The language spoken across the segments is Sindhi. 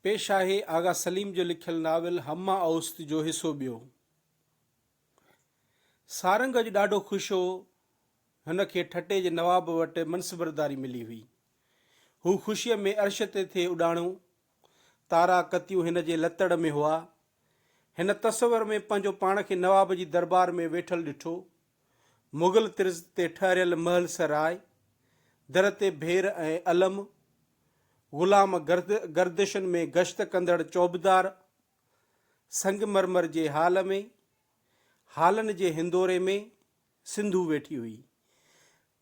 پيش آهي آغا سليم جو لکيل ناول همه اوست جو حصو ٻيو. سارنگ اڄ ڏاڍو خوش هو. هن کي ٺٽي جي نواب وٽ منصبرداري ملي هئي. هو خوشيء ۾ عرش تي ٿي اڏاڻو. تارا ڪتيون هن جي لتڙ ۾ هئا. هن تصور ۾ پنهنجو پاڻ کي نواب جي دربار ۾ ويٺل ڏٺو. مغل طرز تي ٺهريل محل سراء، در تي ڀير ۽ علم، غلام گردشن ۾ گشت ڪندڙ چوبدار، سنگ مرمر جي هال ۾، هالن جي هندوري ۾، سنڌو ويٺي هئي.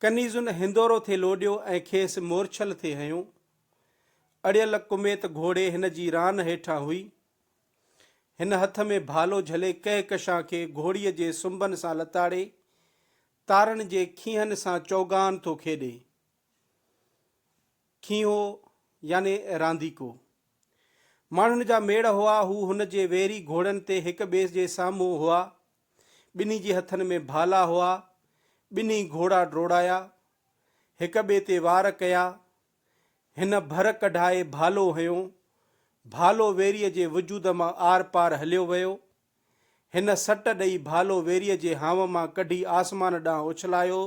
ڪنيزن هندورو ٿي لوڏيو ۽ کيس مورڇل ٿي هنيو. اڙيل ڪميت گهوڙي هن جي ران هيٺان هئي. هن هٿ ۾ ڀالو جهلي ڪهڪشان کي گهوڙيء جي سنبن سان لتاڙي، تارن جي کينهن سان چوگان ٿو کيڏي. کينهو يعني رانديڪو. ماڻهن جا ميڙ هئا، هو هن جي ويري گهوڙن تي هڪ ٻئي جي سامهون هئا. ٻنهي جي هٿن ۾ ڀالا هئا. ٻنهي گهوڙا ڊوڙايا. هڪ ٻئي تي وار ڪيا. هن ڀر ڪڍائي ڀالو هنيو. ڀالو ويريء جي وجود مان آر پار هليو ويو. هن سٽ ڏئي ڀالو ويريء جي هانء مان ڪڍي آسمان ڏانهن اڇلايو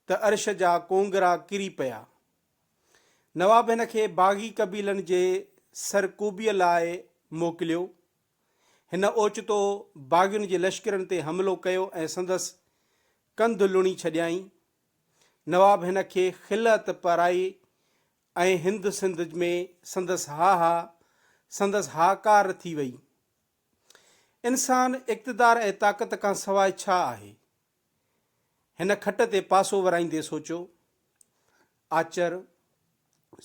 ته عرش جا ڪونگرا ڪري پيا. نواب هن کي باغي قبيلن جي سرڪوبيء لاء موڪليو. هن اوچتو باغين جي لشڪرن تي حملو ڪيو ۽ سندس ڪنڌ لڻي ڇڏيائين. نواب هن کي خلعت پرائي ۽ هند سنڌ ۾ سندس ها ها سندس هاڪار ٿي وئي. انسان اقتدار ۽ طاقت کان سواء ڇا آهي؟ هن کٽ تي پاسو ورائيندي سوچيو. آچر،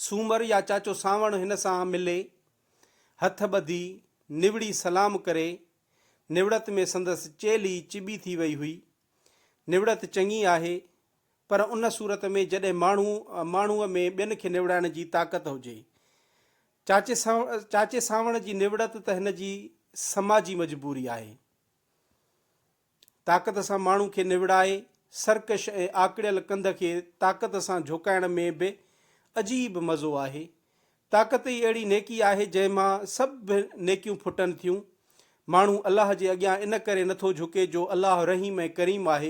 سومر يا چاچو سانوڻ هن سان ملي، هٿ ٻڌي، نوڙي سلام ڪري، نوڙت ۾ سندس چيلهي چٻي ٿي وئي هئي. نوڙت چڱي آهي، پر ان صورت ۾ جڏهن ماڻهو ماڻهوء ۾ ٻين کي نوڙائڻ جي طاقت هجي. چاچي چاچي سانوڻ جي نوڙت ته هن جي سماجي مجبوري آهي. طاقت سان ماڻهو کي نوڙائي، سرڪش ۽ آڪڙيل ڪنڌ کي طاقت سان جهوڪائڻ ۾ به عجيب مزو آهي. طاقت ئي اهڙي نيڪي آهي جنهن مان سڀ نيڪيون ڦٽن ٿيون. ماڻهو الله جي اڳيان ان ڪري نه ٿو جهڪي جو الله رحيم ۽ ڪريم آهي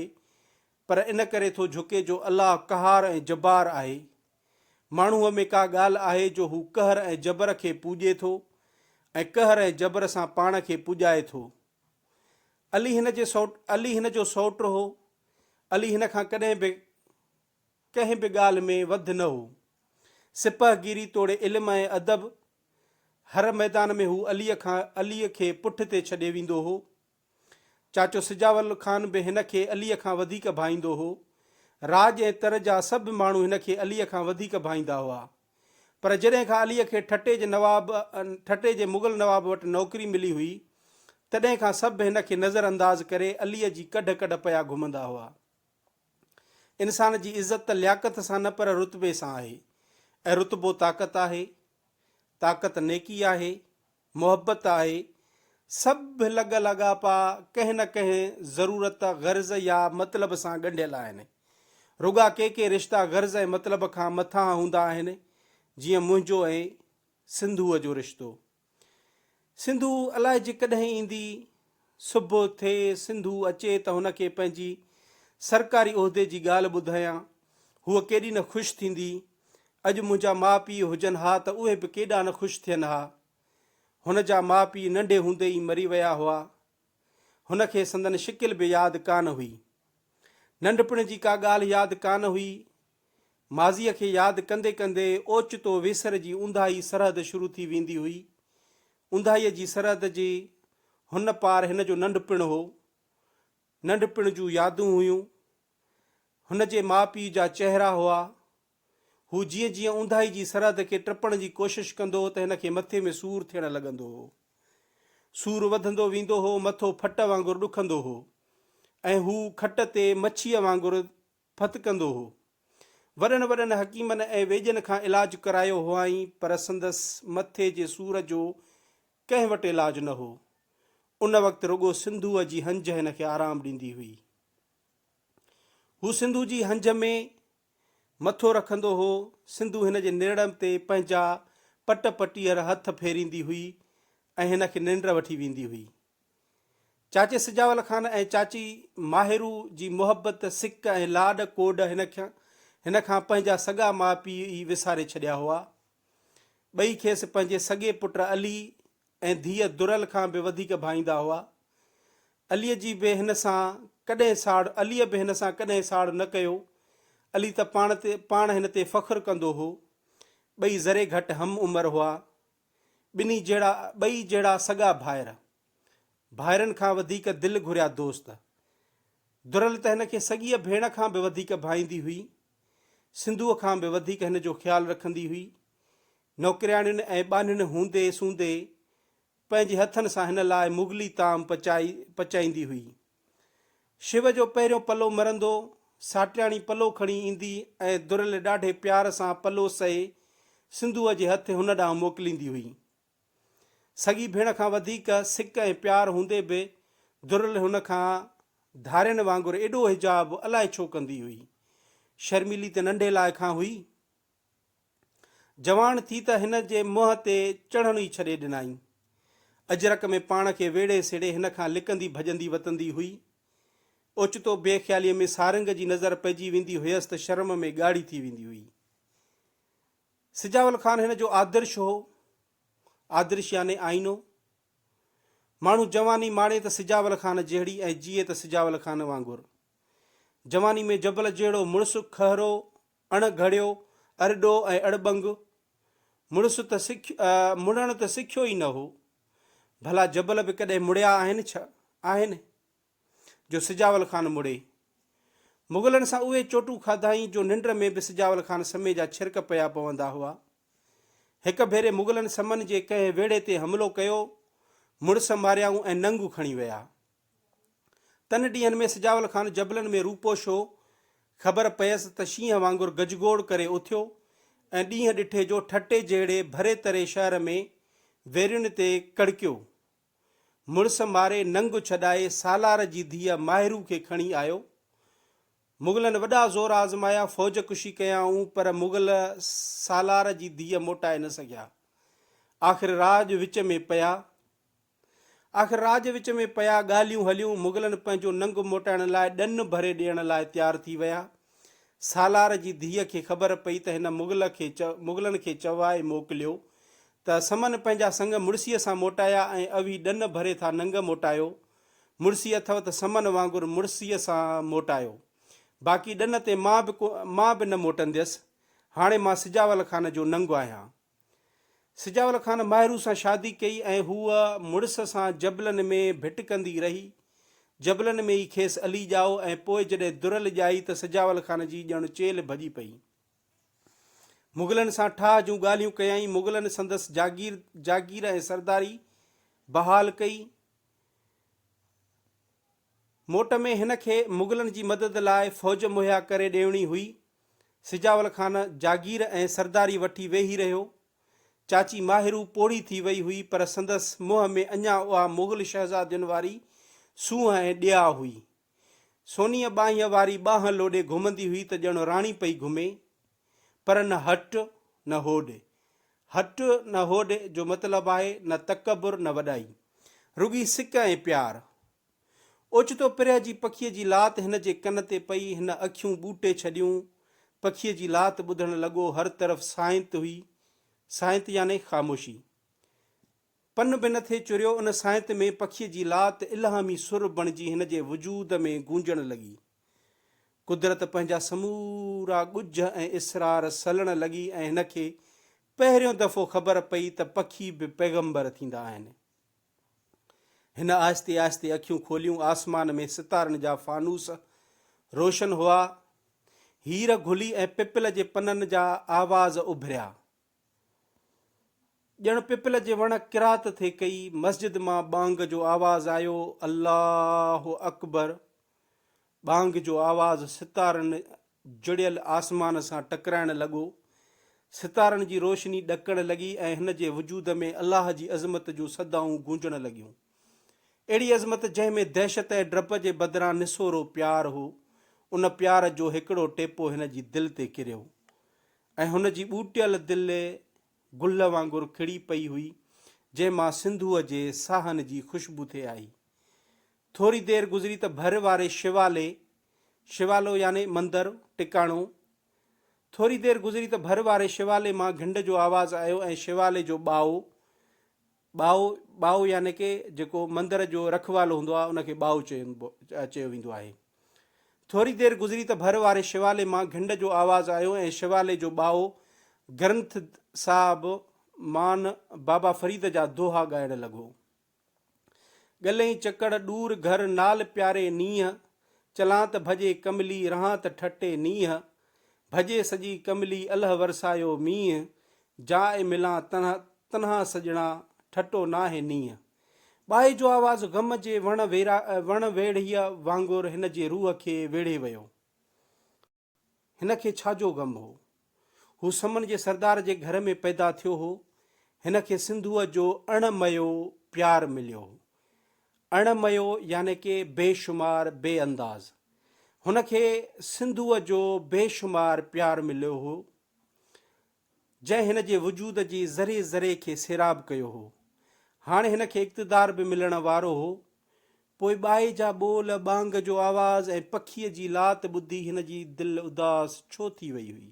پر ان ڪري ٿو جهڪي جو الله قهار ۽ جبار آهي. ماڻهوء ۾ ڪا ڳالهه آهي جو هو قهر ۽ جبر کي پوڄي ٿو ۽ قهر ۽ جبر سان پاڻ کي پڄائي ٿو. علي هن جي علي هن جو سئوٽ هو. علي هن کان ڪڏهن به. ڪنهن به ڳالهه ۾ وڌ نه هو. سپهگيري توڙي علم ۽ ادب، هر ميدان ۾ هو عليء کان عليء کي پٺ تي ڇڏي ويندو هو. چاچو سجاول خان به هن کي عليء کان وڌيڪ ڀائيندو هو. راڄ ۽ تر جا سڀ ماڻهو هن کي عليء کان وڌيڪ ڀائيندا هئا. پر جڏهن کان عليء کي ٺٽي جي نواب ٺٽي جي مغل نواب وٽ نوڪري ملي هئي، تڏهن کان سڀ هن کي نظر انداز ڪري عليء جي ڪڍ ڪڍ پيا گهمندا هئا. انسان جي عزت ته لياقت سان نه پر رتبي سان آهي ۽ رتبو طاقت آهي. طاقت نيڪي آهي، محبت آهي. سڀ لڳ لاڳاپا ڪنهن نه ڪنهن ضرورت، غرض يا مطلب سان ڳنڍيل آهن. رڳا ڪي ڪي رشتا غرض ۽ مطلب کان مٿانهان هوندا آهن، جيئن منهنجو ۽ سنڌوء جو رشتو. سنڌو الائي جي ڪڏهن ايندي. صبح ٿئي سنڌو اچي ته هن کي پنهنجي سرڪاري عهدي جي ڳالهه ٻڌايان. هوء ڪيڏي نه خوش ٿيندي. اڄ منهنجا ماء پيء هجن ها ته اهي به ڪيڏا نه خوش ٿين ها. هن جا ماء پيء ننڍي هوندي ئي مري ويا هئا. هن کي سندن شڪل به ياد ڪانه هئي. ننڍپڻ جي ڪا ڳالهه ياد ڪانه هئي. ماضيء کي ياد ڪندي ڪندي اوچتو ويسر جي اونداهي سرحد شروع ٿي ويندي هئي. اونداهيء جي سرحد جي هن پار هن جو ننڍپڻ هو. ننڍپڻ جون يادون هيون. هن جي ماء پيء جا چهرا هئا. هو جيئن جيئن اونداهي جي سرحد کي ٽپڻ جي ڪوشش ڪندو هو ته هن کي مٿي ۾ سور ٿيڻ لڳندو هو. سور وڌندو ويندو هو، مٿو ڦٽ وانگر ڏکندو هو ۽ هو کٽ تي مڇيء وانگر ڦت ڪندو هو. وڏن وڏن حڪيمن ۽ ويڄن کان علاج ڪرايو هئائين پر سندس مٿي جي سور جو ڪنهن وٽ علاج نه هو. ان وقت رڳو سنڌوء جي هنج هن کي آرام ڏيندي هئي. هو سنڌو جي هنج ۾ مٿو رکندو هو. سنڌو هن جي نرڙن تي پنهنجا پٽ پٽيهر هٿ ڦيريندي هئي ۽ هن کي ننڊ وٺي ويندي هئي. چاچي سجاول خان ۽ چاچي ماهرو جي محبت، سڪ ۽ لاڏ ڪوڏ هن کي هن کان پنهنجا سڳا ماء پيء ئي وساري ڇڏيا هئا. ٻئي کيس پنهنجي سڳي پٽ علي ۽ ڌيء درل کان به وڌيڪ ڀائيندا هئا. علي جي به هن سان ڪڏهن ساڙ عليء به هن سان ڪڏهن ساڙ نه ڪيو. علي ته پاڻ تي پاڻ هن تي فخر ڪندو هو. ٻئي ذري گهٽ هم عمر هئا. ٻنهي جهڙا ٻئي جهڙا سڳا ڀائر. ڀائرن کان وڌيڪ دل گهريا دوست. درل ته هن کي سڳيء ڀيڻ کان به وڌيڪ ڀائيندي هئي. سنڌوء کان به وڌيڪ هن جو خيال رکندي هئي. نوڪرياڻين ۽ ٻانهن هوندي سوندي پنهنجي هٿن سان هن لاء مغلي طعام پچائي پچائيندي هئي. شو جو پهريون پلو مرندو، ساٽياڻي پلو کڻي ايندي ۽ درل ڏاڍي پيار سان پلو سهي سنڌوء جي هٿ هن ڏانهن موڪليندي هئي. سڳي ڀيڻ کان وڌيڪ سڪ ۽ پيار هوندي به درل هن کان ڌارين وانگر ايڏو حجاب الاء ڇو ڪندي هئي. شرميلي ته ننڍي لاء کان هئي. جوان ٿي ته هن جي منهن تي چڙهڻ ئي ڇڏي ڏنائين. اجرڪ ۾ پاڻ کي ويڙهي سيڙهي هن کان لڪندي ڀڄندي وتندي هئي. اوچتو بي خياليء ۾ سارنگ جي نظر پئجي ويندي هيس ته شرم ۾ ڳاڙهي ٿي ويندي هئي. سجاول خان هن جو آدرش هو. آدرش يعني آئينو. ماڻهو جواني ماڻي ته سجاول خان جهڙي ۽ جيئي ته سجاول خان وانگر. جواني ۾ جبل جهڙو مڙس کهرو اڻ گهڙيو، ارڏو ۽ اڙٻنگ، مڙس ته سک مڙڻ ته سکيو ئي نه هو. ڀلا جبل به ڪڏهن مڙيا آهن ڇا؟ آهن، جو سجاول خان مڙي. مغلن سان اهي چوٽون کاڌائين جو ننڊ ۾ به سجاول خان سمي جا ڇرڪ پيا پوندا هئا. هڪ ڀيري مغلن سمن جي ڪنهن ويڙهي تي حملو ڪيو، مڙس ماريائون ۽ ننگ کڻي ويا. تن ڏينهن ۾ سجاول خان جبلن ۾ روپوش هو. خبر پيس ته شينهن وانگر گجگوڙ ڪري اٿيو ۽ ڏينهن ڏٺي جو ٺٽي جهڙي ڀري تري شهر ۾ ويرين تي ڪڙڪيو. مڙس ماري ننگ ڇڏائي سالار جي ڌيء ماهرو کي کڻي آيو. مغلن وڏا زور آزمايا، فوج ڪشي ڪيائون پر مغل سالار جي ڌيء موٽائي نه سگهيا. آخر راڄ وچ ۾ پيا. آخر راء جي وچ ۾ پيا، ڳالهيون هليون، مغلن پنهنجو ننگ موٽائڻ لاء ڏن ڀري ڏيڻ لاء تيار ٿي ويا. سالار جي ڌيء کي خبر پئي ته هن مغل کي مغلن کي چوائي موڪليو ته سمن پنهنجا سڱ مڙسيء سان موٽايا ۽ اوهين ڏن ڀري ٿا ننگ موٽايو. مڙسي اٿئو ته سمن وانگر مڙسيء سان موٽايو. باقي ڏن تي مان به مان به نه موٽنديس. هاڻي مان سجاول خان جو ننگ آهيان. سجاول خان ماهرو سان شادي ڪئي ۽ هوء مڙس سان جبلن ۾ ڀٽڪندي رهي. جبلن ۾ ئي کيس علي ڄائو ۽ پوء جڏهن درل ڄائي ته سجاول خان جي ڄڻ چيلهه ڀڄي پئي. مغلن سان ٺاهه جون ڳالهيون ڪيائين. مغلن سندس جاگير جاگير ۽ سرداري بحال ڪئي. موٽ ۾ هن کي مغلن جي مدد لاء فوج مهيا ڪري ڏيڻي هئي. سجاول خان جاگير ۽ سرداري وٺي ويهي رهيو. چاچي ماهرو پوڙهي ٿي وئي هئي پر سندس منهن ۾ اڃا اها مغل شهزادين واري سونهن ۽ ڏياء هئي. سونيء ٻانهيء واري ٻانهن لوڏي گهمندي هئي ته ڄڻ راڻي پئي گهمي. پر نه هٽ نه هوڏ. هٽ نه هوڏ جو مطلب آهي نه تڪبر نه وڏائي. رڳي سڪ ۽ پيار. اوچتو پرهه جي پکيء جي لات هن جي ڪن تي پئي، هن اکيون ٻوٽي ڇڏيون. پکيء جي لات ٻڌڻ لڳو، هر طرف سانت هئي. سانت يعني خاموشي. پن به نه ٿي چريو، ان سائنت ۾ پکيء جي لات الهامي سر بڻجي هن جي وجود ۾ گونجڻ لڳي. قدرت پنهنجا سمورا ڳجهه ۽ اسرار سلڻ لڳي ۽ هن کي پهريون دفعو خبر پئي ته پکي به پيغمبر ٿيندا آهن. هن آهستي آهستي اکيون کوليون، آسمان ۾ ستارن جا فانوس روشن هئا، هير گلي ۽ پپل جي پنن جا آواز اڀريا. ڄڻ پپل جي وڻ قرات ٿي ڪئي، مسجد مان ٻانگ جو آواز آيو، الله اڪبر! ٻانگ جو آواز ستارن جڙيل آسمان سان ٽڪرائڻ لڳو، ستارن جي روشني ڏڪڻ لڳي ۽ هن جي وجود ۾ الله جي عظمت جون صدائون گونجڻ لڳيون. اهڙي عظمت جنهن ۾ دهشت ۽ ڊپ جي بدران نسورو پيار هو، ان پيار جو هڪڙو ٽيپو هن جي دل تي ڪريو. ۽ هن جي ٻوٽيل دل گل وانگر کڙي پئي هئي، جنهن مان سنڌوء جي ساهن جي خوشبو ٿي آئي. ٿوري دير گذري ته ڀر واري شيوالي، شيوالو يعني مندر، ٽڪاڻو، ٿوري دير گذري ته ڀر واري شيوالي مان گهنڊ جو آواز آيو ۽ شيوالي جو ٻائو، ٻائو، ٻائو يعني ڪه جيڪو مندر جو رکوالو هوندو آهي ان کي ٻائو چيبو چيو ويندو آهي. ٿوري دير گذري ته ڀر واري شيوالي مان گهنڊ جو آواز آيو ۽ شيوالي جو ٻائو گرنٿ صاحب مان بابا فريد جا دوها ڳائڻ لڳو. ڳلهين چڪڙ ڏور گهر نال پياري نينهن، چلان ته ڀڄي ڪملي رهان ته ٺٽي نينهن، ڀڄي سڄي ڪملي الھ ورسايو مينهن، جاء ملان تنها تنها سڄڻا، ٺٽو ناهي نينهن. ٻائي جو آواز غم جي وڻ ويرا وڻ ويڙهيء وانگر هن جي روح کي ويڙهي ويو. هن کي ڇا جو غم هو؟ هو سمن جي سردار جي گهر ۾ پيدا ٿيو هو. هن کي سنڌوء جو اڻ مئيو پيار مليو هو. اڻ ميو يعني ڪي بي شمار بي انداز. هن کي سنڌوء جو بي شمار پيار مليو هو، جنهن هن جي وجود جي ذري ذري کي سيراب ڪيو هو. هاڻي هن کي اقتدار به ملڻ وارو هو. پوء ٻائي جا ٻول، ٻانگ جو آواز ۽ پکيء جي لات ٻڌي هن جي دل اداس ڇو ٿي وئي هئي؟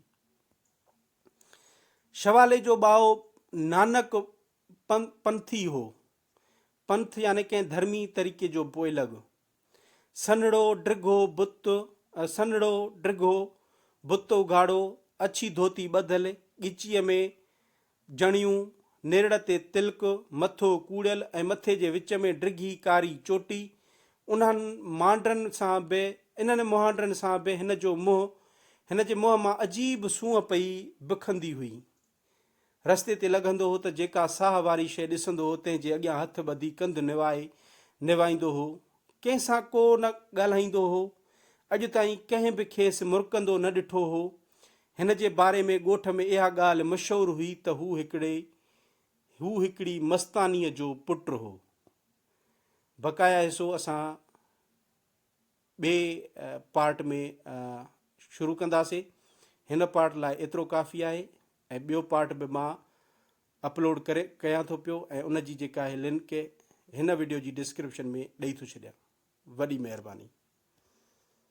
شوالي جو ٻائو نانڪ پنٿي هو. پنٿ يعني ڪنهن ڌرمي طريقي جو پوئلڳ. سنهڙو ڊگهو بت، سنهڙو ڊگهو بت اگهاڙو، اڇي ڌوتي ٻڌل، ڳچيء ۾ جڻيون، نرڙ تي تلڪ، مٿو ڪوڙيل ۽ مٿي جي وچ ۾ ڊگهي ڪاري چوٽي. انهن مهانڊرن سان به انهن مهانڊرن سان به هن جو منهن، هن جي منهن مان عجيب سونهن پئي بکندي هئي. رستي تي لگهندو هو ته جيڪا ساهه واري شيء ڏسندو هو تنهن جي اڳيان هٿ ٻڌي ڪنڌ نوائي نوائيندو هو. ڪنهن سان ڪو نه ڳالهائيندو هو. اڄ تائين ڪنهن به کيس مرڪندو نه ڏٺو هو. هن جي باري ۾ ڳوٺ ۾ اها ڳالهه مشهور هئي ته هو هڪڙي هو هڪڙي مستانيء جو پٽ هو. بقايا حصو اسان ٻئي پارٽ ۾ شروع ڪنداسي هن پارٽ لاء ايترو ڪافي آهي ۽ ٻيو پارٽ به مان اپلوڊ ڪري ڪيان ٿو پيو ۽ ان جي جيڪا آهي لنڪ هن وڊيو جي ڊسڪرپشن ۾ ڏئي ٿو ڇڏيان وڏي مهرباني.